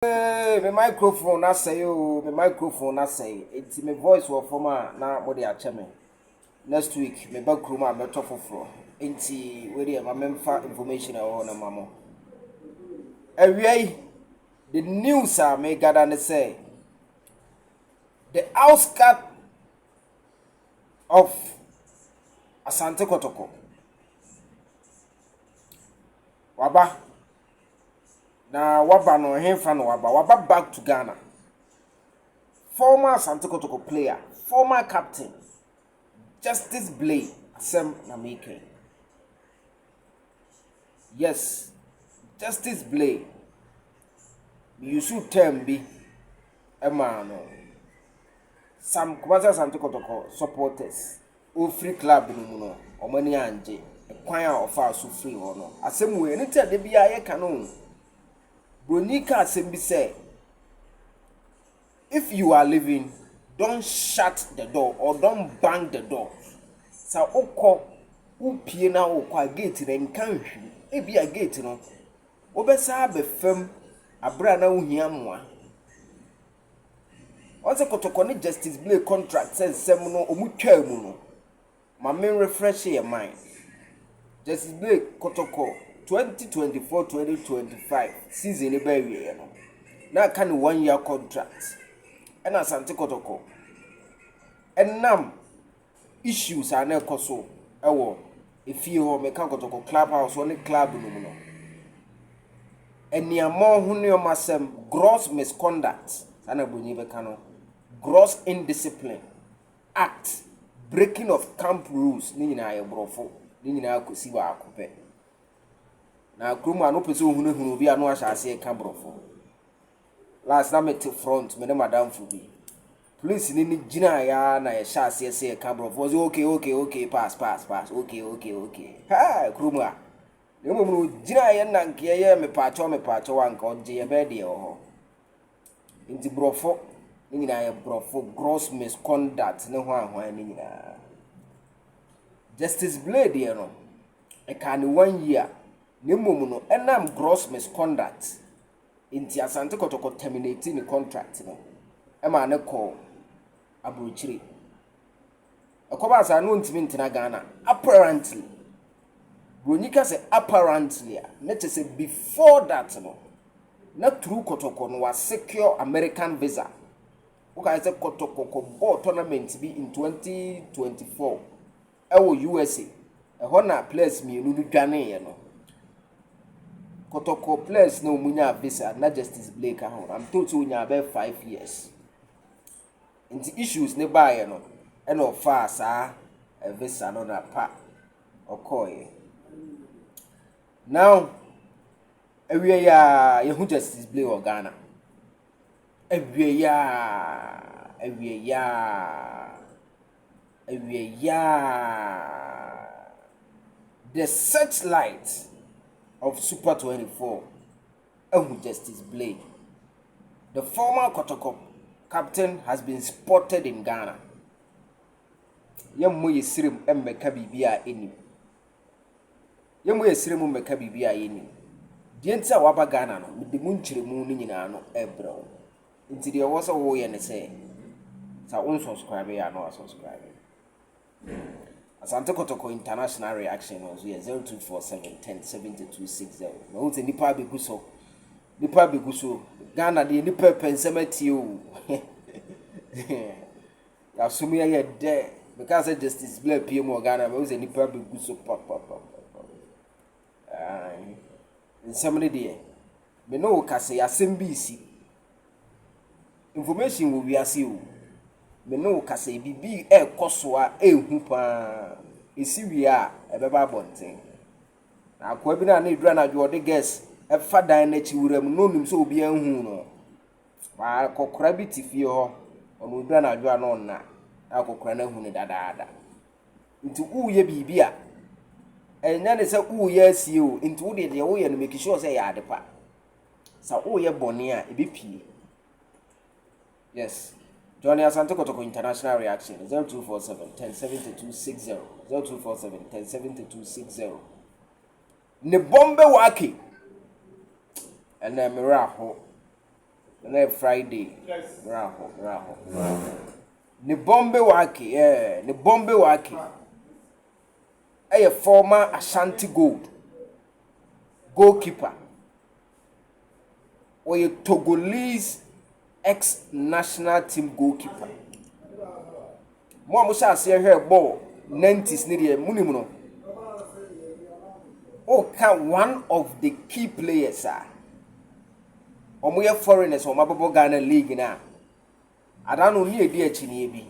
Eeii me microphone no asɛe oo, me microphone no asɛe, enti me voice wɔ fam a na mode akyɛ me. Next week meba kurom a mɛtɔ foforɔ, enti wei deɛ ma memfa information a ɛwɔ hɔ no ma mo. Awia yi, the news a megada ne sɛ, the outskirt of Asante Kɔtɔkɔ, waba. Na waba no ɛhefa na waba? Waba back to Ghana. Former Asante Kotoko player, former captain, Justice Blay asɛm na meka yi. Yes, Justice Blay. Yusu term bi ɛmaa no. Some Kumasi Asante Kotoko supporters. ɔrefiri club no mu no, wɔn ani angye. Kwan a ɔfaa so firii hɔ no, asɛm wei, ɛno nti a da biara yɛka no o. Buroni ka asɛm bi sɛ, if you are living, don't shut the door or don't bang the door. Sɛ wokɔ, wopie na wokɔ a gate no nka nhwiri. Ebi a gate no, wobɛsa abɛfam abere a na wohia mmoa. Ɔse kɔtɔkɔ ne Justice Blake contract sɛ nsɛm no ɔmo twaa mu no ma me refresh yɛ mind. Justice Blake kɔtɔkɔ 2024-2025 season no bɛ awieɛ no na aka ne one year contract ɛna Asante kɔtɔkɔ ɛnam issues a na ɛkɔ so wɔ efie hɔ, meka kɔtɔkɔ club house hɔ ne club no mu no, aniammɔ ho nneɛma asɛm, gross misconduct, saa na Broni bɛka no, gross indiscipline, act, breaking of camp rules, ne nyinaa yɛ borɔfo, ne nyinaa kɔsi baako pɛ. Na kurom a no pɛ sɛ ohunahunu obi a no ahyɛ aseɛ ka borɔfo. Last na mete front, me ne madamfo bi. Polisini no gyinaeɛ ara na yɛhyɛɛ aseɛ sɛ yɛka Borɔfo. Ɔse ok, ok, ok, pass, pass, pass, ok, ok, ok. Haa! Kuro mu a. Na mmom no, ɔgyinaeɛ nankeɛ yɛɛ mepaakyɛw, mepaakyɛw a nka ɔgye yɛbɛyɛ deɛ ɛwɔ hɔ. Nti Borɔfo no nyinaa yɛ Borɔfo, gross misconduct ne hwanhwan no nyinaa. Justice Blay deɛ no, ɛkaa ne one year. Na mmom no, ɛnam gross misconduct Enti Asante Kɔtɔkɔ terminate ne contract no maa no kɔɔ aburokyire. Ɛkɔbaa saa no ɔntumi ntena Ghana apparently. Buroni ka sɛ apparently a ne kyɛ sɛ before that no na through Kɔtɔkɔ no wasecure American visa. Wokae sɛ Kɔtɔkɔ kɔbɔɔ tournament bi in 2024. wɔ USA. Ɛhɔ na players mmienu no dwaneeɛ no. Kɔtɔkɔ players na wɔn nyaa visa na Justice Blake ka ho. I'm told sɛ ɔnyaa bɛyɛ five years. Nti issues ne baeɛ no ɛna ɔfaa saa eh, visa no na pa ɔkɔeɛ. Now awie yɛ a yɛhu Justice Blake wɔ Ghana. Awie yɛ a awie yɛ a Awie yaa! The searchlight of Super 24 ahu Justice Blade. The former Kɔtɔkɔ captain has been spotted in Ghana. Yɛmmɔ yɛ srem mmɛka biribi a ɛnim. Yɛmmɔ yɛ srem mmɛka biribi a yɛnim. Deɛ nti a waba Ghana no, mede mu nkyerɛmu no nyinaa no ɛbrɛ wo. Ntsi deɛ ɔwɔ sɛ woyɛ ne sɛ, sɛ wo nsɔskraibe a na wasɔskraibe. Asante Kotoko International reaction no nso yɛ zero two four seven ten seventy two six zero. Na ohun sɛ nipa abegu so, nipa abegu so. Ghana deɛ nipa ɛpɛ nsɛm atie o. Yasum yɛ yɛ dɛ. Meka sɛ Justice Blair pie mu wɔ Ghana, mɛ ohun sɛ nipa abegu so papapapa. Aane. Nsɛm no deɛ, me ne wo ka sɛ asɛm bi resi. Information wɔ wiase o. Me ne wo ka sɛ biribi ɛrekɔ so a ɛrehu paa. Ɛsi wie a, ɛbɛba abɔnten. Na akoa bi no a na ɛduru anadwo ɔde gas ɛfa dan no akyi wura mu na ɔnim sɛ obiara nhu no. Akɔkora bi te fie hɔ, ɔno ɔduru anadwo a na ɔnna. Na akɔkora no ahu no dadaada. nti woyɛ biribi a ɛnyɛ ne sɛ woyɛ asie o nti wo deɛ deɛ woyɛ no make sure sɛ ɛyɛ ade pa sɛ woyɛ bɔne a ɛbɛpie yes Johnny Asante Kotoko International Reaction 0247 107260 0247 107260 ne bɔm bɛwɔ ake ɛnɛ mmerɛ aho ɛnɛ Friday mmerɛ aho mmerɛ aho mmerɛ aho Ne Bombe Wake eh, ne Bombe Wake yɛ former Ashanti Gold goalkeeper. Ɔyɛ Togolese ex-national team goalkeeper. Mo a mohyɛ aseɛ hwɛɛ bɔɔl 90s ne deɛ monim no, woka one of the key players a wɔyɛ foreigners a wɔabɛbɔ Ghana league no a, Anaa no ne ɛdi akyinie bi.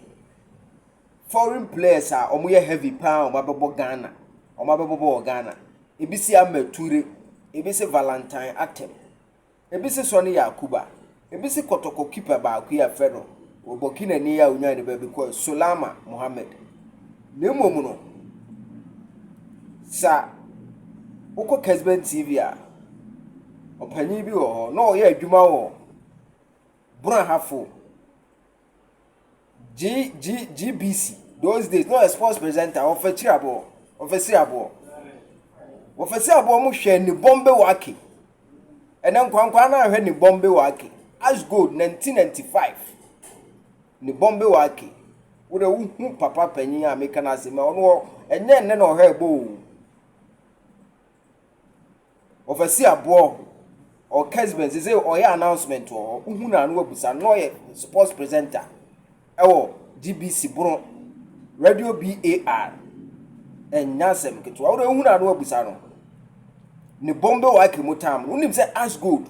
Foreign players a wɔn yɛ heavy paa wɔn abɛbɔ Ghana. Wɔn abɛbɔbɔ wɔ Ghana. Ebi se Ahmed Ture. Ebi se Valentine Atem. Ebi se Sonny Yakuba. Ebi se Kɔtɔkɔ keeper baako yi a fɛ no wɔ Burkina ni a onyaa ne baabi kɔɛ Solama Mohammed. Na mmom no sa wokɔ Kesben TV a ɔpanyin bi wɔ hɔ na ɔyɛ adwuma wɔ Bura ha fo. G G GBC those days no a sports presenter wɔfɛ kyiri aboɔ wɔfɛ si aboɔ wɔfɛ si aboɔ mo hwɛ ne bɔmbe wake ɛnɛ nkwankwa no ahwɛ ne bɔmbe wake as gold 1995 ne bɔmbe wake wode wohu papa panyin a meka no asɛm a ɔno ɛnyɛ nnɛ na ɔhwɛ ɛbɔ o Ɔfɛsi aboɔ ɔ kesben sese ɔyɛ announcement wɔ hɔ wohu no a na wabusa no na ɔyɛ sports presenter ɛwɔ GBC bono radio BAR ɛnyɛ asɛm ketewa wode wohu no a na wabusa no ne bombe wake mu tam no wonim sɛ as gold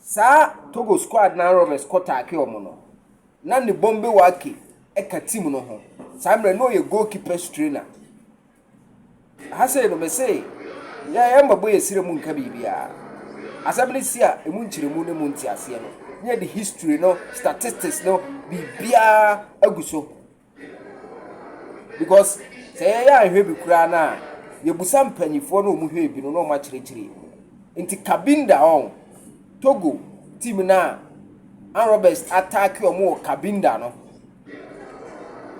Saa Togo squad no a Roberts kɔ taake wɔn no, na ne Bombe Wake ka team no ho. Saa mmerɛ no na ɔyɛ goalkeepers trainer. Ha sei no mese yɛ yɛ mmabɔ yɛ sire mu nka biribiara. Asɛm no si a emu nkyerɛmu ne mu nteaseɛ no, ne yɛde history no, statistics no, biribiara agu so. Because sɛ yɛyɛ anhwɛ bi koraa no a, yɛbusa mpanimfoɔ na wɔn hwɛɛ bi no na wɔn akyerɛkyerɛ. Nti Cabinda wɔn, Togo team no a Ann Roberts ataake wɔn wɔ Cabinda no,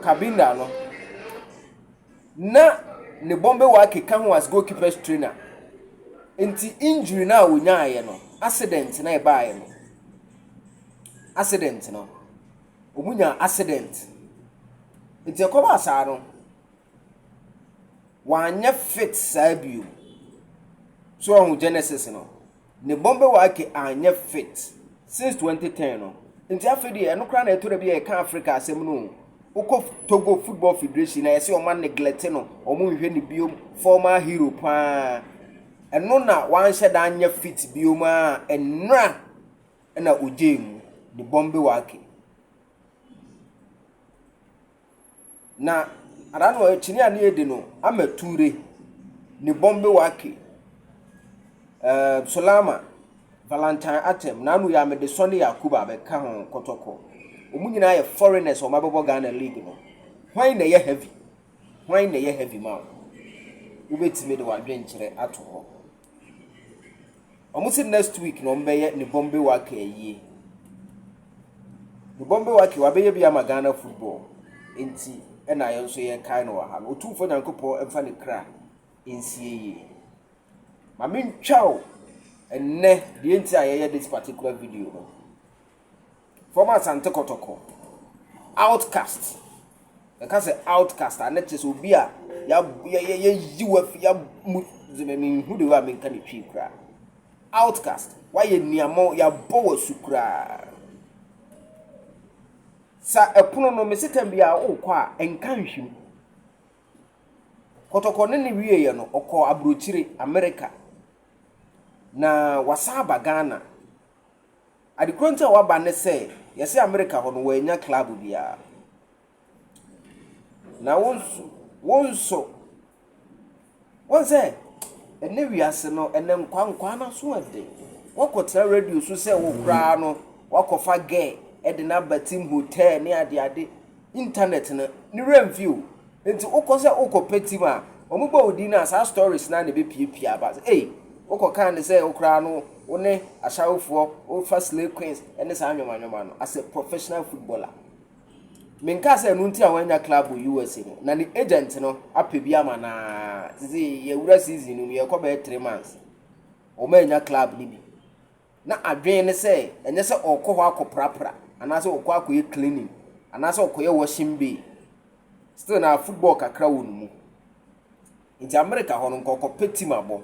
Cabinda no, na ne Bombay Wake ka ho as goalkeepers trainer. Nti injury no a wɔnyaeɛ no, accident na ɛbaeɛ no. Accident no. Ɔmo nyaa accident. Nti ɛkɔbaa saa no, wanyɛ fit saa bio. So ɔho Genesis no, ne bɔmbɛ wake anyɛ fit since 2010 no. Nti afei deɛ ɛno koraa na ɛtɔ da bi a yɛka Africa asɛm no o. Wokɔ Togo Football Federation na yɛsɛ ɔma neglect no, ɔmo nhwɛ ne biom, former hero paa. Ɛno na wanhyɛ da anyɛ fit biom a ɛnra. na ogyae mu de bɔn bewake. Na ara no akyini a ne edi no ama Ture ne bɔn bewake ɛɛ Solama, Valentine Atem, Nanu Yamidison ne Yakubu abɛka ho kɔtɔkɔ. Wɔn nyinaa yɛ foreigners a wɔabɛbɔ Ghana league no. Hwan na ɛyɛ heavy? Hwan na ɛyɛ heavy ma wo? Wobɛtumi de w'adwenkyerɛ ato hɔ. Ɔmo se next week na ɔmo bɛyɛ ne Bombay Wake ayie. Ne Bombay Wake wabɛyɛ bi ama Ghana football. Nti ɛna yɛn nso yɛkae no wɔ ha no. Otumfoɔ Nyankopɔn mfa ne kra nsie yie. Ma mentwa o ɛnnɛ deɛ nti a yɛyɛ this particular video no. From Asante Kotoko. Outcast. Ɛka sɛ outcast a, na kyerɛ sɛ obi a yɛyi wo afi yamu menhu de hɔ a menka ne twi koraa. Outcast. Wayɛ niamɔ, yɛabɔ wo asu koraa. Sa ɛpono no, mese tam bi a wokɔ a, nka nhwim. Kotoko ne ne wieeɛ no, ɔkɔ aburokyire, Amerika. Na wasan aba Ghana. Ade korɔ nti a waba ne sɛ yɛse Amerika hɔ no wɔannya club biara. Na wo nso, wo nso, wɔn sɛ ɛnɛ wiase no ɛnɛ nkwaa nkwaa no aso ɛden. Wakɔ tena radio so sɛ wo koraa no wakɔfa gɛ ɛde no aba team hotel ne ade ade. Internet no ne wura mfi o nti wokɔ sɛ wokɔ pɛ team a wɔn bɔ wo din no a saa stories no ara na ɛbɛ pie pie aba sɛ ei wokɔ kaa ne sɛ wo koraa no wo ne ashawofoɔ wo fa slay queens ɛne saa nwoma nwoma no as a professional footballer me nkaa sɛ ɛno nti a wɔanya club wɔ USA no na ne agent no apɛ bi ama na sisi yɛwura season no mu yɛkɔ bɛyɛ three months wɔn anya club no bi na adwene ne sɛ ɛnyɛ sɛ ɔrekɔ hɔ akɔprapra anaasɛ ɔrekɔ akɔyɛ cleaning anaasɛ ɔkɔyɛ washing bay still na football kakra wɔ ne mu nti america hɔ no nkɔkɔpɛ team abɔ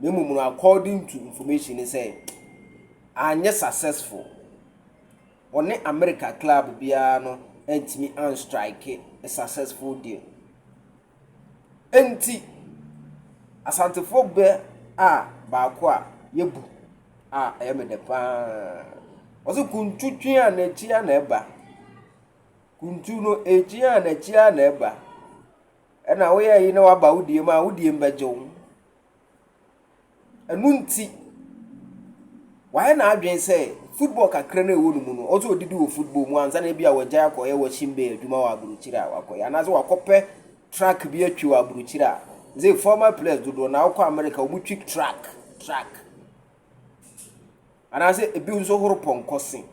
na mmom no according to information ne sɛ anyɛ successful ɔne america club biara no antumi anstrike a successful deal Enti, Asantefoɔ bɛ a baako a yɛbu a ɛyɛ me dɛ pa ara. Ɔse, Kuntu twe a n'akyi a na ɛba. Kuntu no ɛretwe a n'akyi a na ɛba. Ɛna woyɛ ayi na waba wo deɛ mu a, wo deɛ mu bɛgye wo. Ɛno nti, wayɛ n'adwene sɛ football kakra no a ɛwɔ ne mu no, ɔwɔ sɛ ɔdidi wɔ football mu ansa na ebi a wagyae akɔyɛ washing bay adwuma wɔ aburokyire a wakɔyɛ anaasɛ wakɔpɛ truck bi atwi wɔ aburokyire a sɛ former players dodoɔ na wokɔ America wɔtwi truck truck anaasɛ ebi nso horo pɔnkɔ se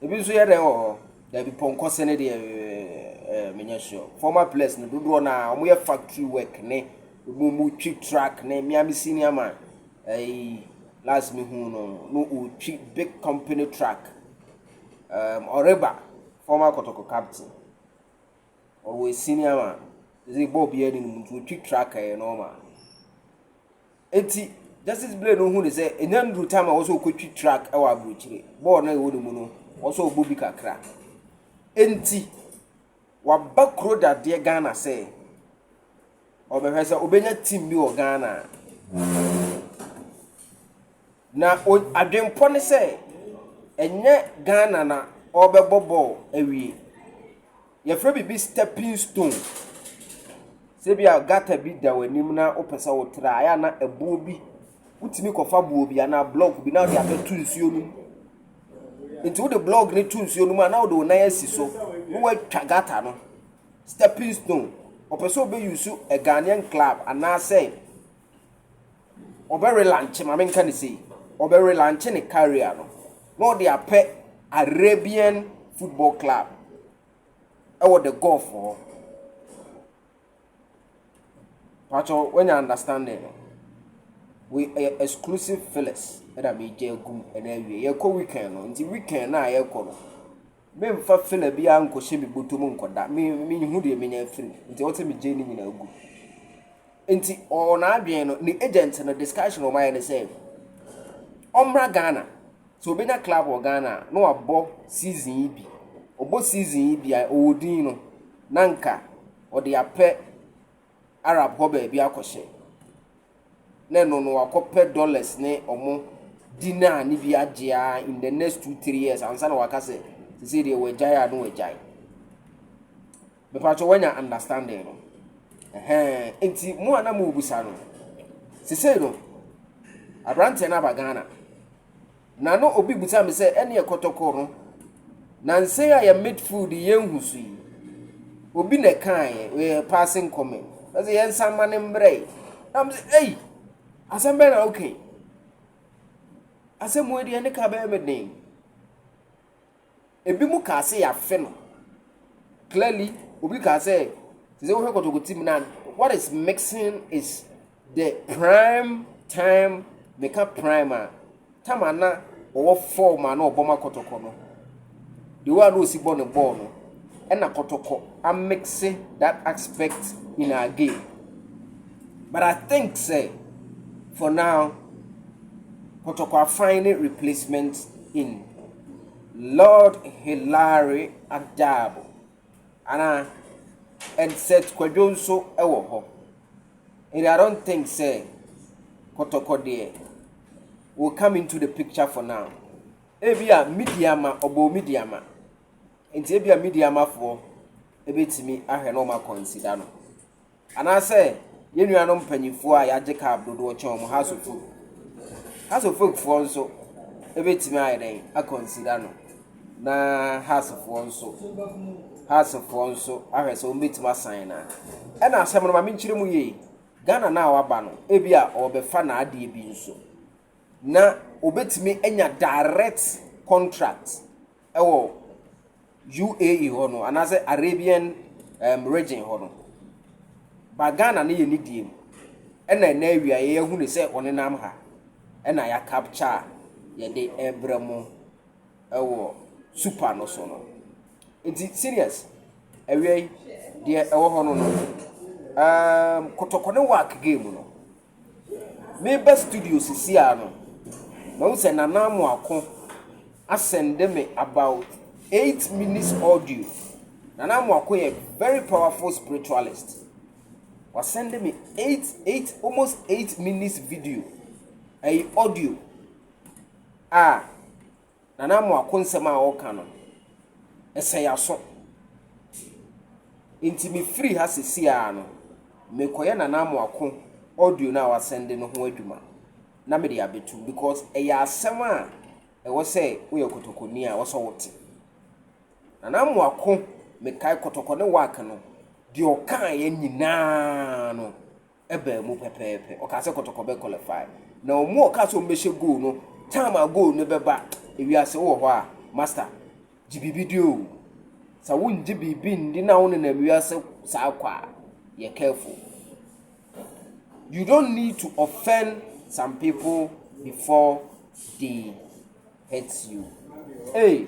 Ebi nso yɛ dɛn wɔ hɔ? Dabi, pɔnkɔ sɛne deɛ ɛɛ menyɛ sure. Former players no dodoɔ na wɔn yɛ factory work ne wɔn mu twi truck ne mmea me senior man ɛyi last me hu no no ɔtwi big company truck um, ɔreba former kɔtɔkɔ captain ɔwɔ senior man ɛsɛ bɔɔl bi ɛni no mu nti ɔtwi truck ɛyɛ normal. Enti, Justice Blay no hui sɛ enya nnuru tam a wɔsɛ okotwi track wɔ aburokyire. Bɔɔl no a ɛwɔ ne mu no, wɔsɛ ɔbɔ bi kakra. Enti, waba kuro dadeɛ Ghana sɛ ɔbɛhwɛ sɛ ɔbɛnya team bi wɔ Ghana. Na adwempɔ ne sɛ ɛnyɛ Ghana na ɔrebɛbɔ bɔɔl awie. Yɛfrɛ biribi stepping stone. Sɛ ebia gutter bi da w'anim na wopɛ sɛ wotra a, ɛyɛ a na ɛboɔ bi, wotumi kɔfa boɔ bi anaa block bi na wode abɛto nsuo no mu. Nti wode block no to nsuo no mu a na wode wo nan asi so na woatwa gutter no. Stepping stone. Ɔpɛ sɛ wobɛyusu a Ghanaian club anaasɛ ɔbɛrelankye, ma menka no sei, ɔbɛrelankye ne career no na ɔde apɛ Arabian football club ɛwɔ the Gulf hɔ. Pacho, wanya understanding no. We ɛyɛ eh, exclusive Phyllis ɛna megya agum ɛna awie. Yɛkɔ weekend no, nti weekend no a yɛkɔ no, Memmfa fena biara nnkɔhyɛ me bɔtɔ mu nnkɔda, me, menhu deɛ menya afiri mu, nti ɔsɛ megyae ne nyinaa gu. Nti ɔwɔ n'adwene no, ne agent no discussion wɔn ayɛ ne sɛ, ɔmmra Ghana, sɛ ɔbɛnya club wɔ Ghana a, na wabɔ season yi bi. Ɔbɔ season yi bi a, ɔwɔ din no, na nka ɔde apɛ Arab hɔ baabi akɔhyɛ, na ɛno no wakɔpɛ dollars ne ɔmo dinar ne bi agye a in the next two three years ansa na waka sɛ sese deɛ wagyae a na wagyae mepatwɛ wanya understanding no ɛhɛn nti mo a na mo bisa no sese no aberanteɛ no aba ghana. Na no obi busaa me sɛ, ɛneɛ kɔtɔkɔ no, nansa yi a yɛ midfield yɛnhu so yi, obi na ɛkaeɛ, yɛ passing comment. Na sɛ yɛnsa mma no mbrɛ yi. Na me sɛ, ei, asɛm bɛn na woka yi? Asɛm wei deɛ ne ka bɛyɛ me den. ebinom kaa sɛ yɛafe no clearly obi kaa sɛ te sɛ wohwɛ kɔtɔkɔti mu na what is mixing is the prime time meka prime a tam a na ɔwɔ fɔm a na ɔbɔ ma kɔtɔkɔ no the way a na ɔsi bɔ ne bɔɔl no ɛna kɔtɔkɔ amixe that aspect in our game but i think sɛ for now kɔtɔkɔ afan ne replacement in Lord Hilary Adabo anaa Hegseth Kwadwo nso wɔ hɔ. And I don't think sɛ kɔtɔkɔ deɛ will come into the picture for now. Ebi a Midiama ɔbɔ Midiama nti ebi a Midiamafoɔ ebetumi ahwɛ na wɔn akɔnsida no. Anaasɛ yɛn nuanom mpanyimfoɔ a yɛagye cab dodoɔ kyɛn wɔn Hasofo Hasofofoɔ nso bɛtumi ayɛ dɛn akɔnsida no na Hasofoɔ nso Hasofoɔ nso ahwɛ sɛ wɔbɛtumi asan no a ɛna asɛm no ma menkyerɛ mu yie Ghana no a waba no ebi a ɔbɛfa n'adeɛ bi nso na ɔbɛtumi anya direct contract wɔ UAE hɔ no anaasɛ Arabian um, region hɔ no ba Ghana no yɛ ne die mu ɛna ɛna awia yɛahu ne sɛ ɔnenam ha ɛna yɛakapkya a yɛde ɛbrɛ mo ɛwɔ super no so no nti serious awia yi deɛ ɛwɔ hɔ no no um, kɔtɔkɔ ne work game no Me ba studio sisi a no, mahu sɛ Nana Amoako asɛnde me about eight minutes audio. Nana Amoako yɛ very powerful spiritualist. Wasɛnde me eight, eight, almost eight minutes video, ɛyɛ audio a Nana Amoako nsɛm a ɔreka no, ɛsɛ yɛn aso. Nti mefiri ha sɛsi ara no, mekɔyɛ Nana Amoako audio no a wasɛnde no ho adwuma na mede abɛtum because ɛyɛ asɛm a ɛwɔ sɛ woyɛ kɔtɔkɔni a wɔsɛ wote. Nana Amoako mekae kɔtɔkɔ ne wak no deɛ ɔkaeɛ nyinaa no baa mu pɛpɛɛpɛ. Ɔkaa sɛ Kɔtɔkɔ bɛ qualify. Na wɔn a ɔkaa sɛ wɔn bɛhyɛ goal no, time a goal no bɛba, ewiase wowɔ hɔ a, master, gye biribi di o. Sɛ wongye biribi ndi na wonenam wiase saa kɔ a, yɛ careful. You don't need to offend some people before they hurt you. Hey,